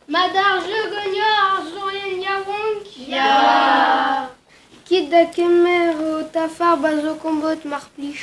Mat ar jeu ganeoc'h ar soñjell yaouank ? Ya ! Kit da kemer ho tafar ba zo kombod mar plij.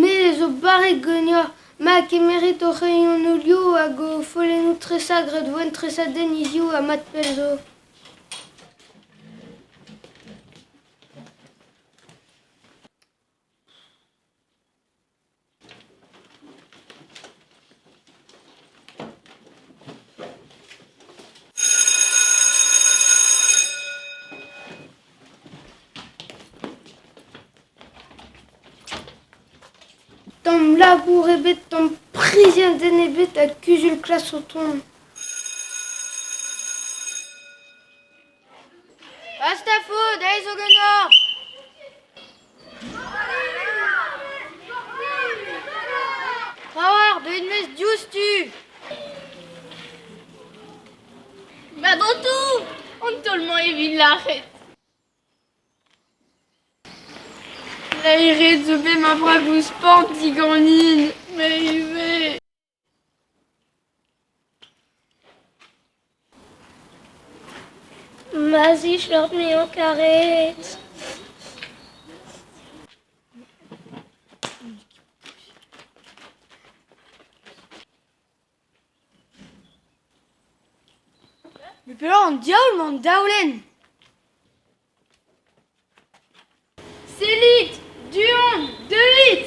Me zo barrek ganeoc'h ma kemerit ho c'hreioù-nolioù hag ho follennoù tresañ gradvoenn tresadenn hiziv ha mat pell zo. Tamm labour ebet, tamm priziadenn ebet ha kuzul-klas o tont. Basta faot, aes zo ganeoc'h! Ra oa ar bed-maez diouzhtu. Met an toù an taol-mañ evit lâret. Laeret zo bet ma vragoù sport diganin, me ivez. Ma zishloc'h m'eo karet. Mais pellañ an diaoul 'mañ an daolenn ? Sellit, du-hont, deuit !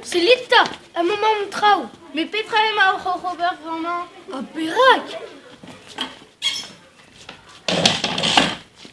Sellit 'ta, amañ an traoù ! Met petra emañ oc'h ober bremañ ? Ha perak ?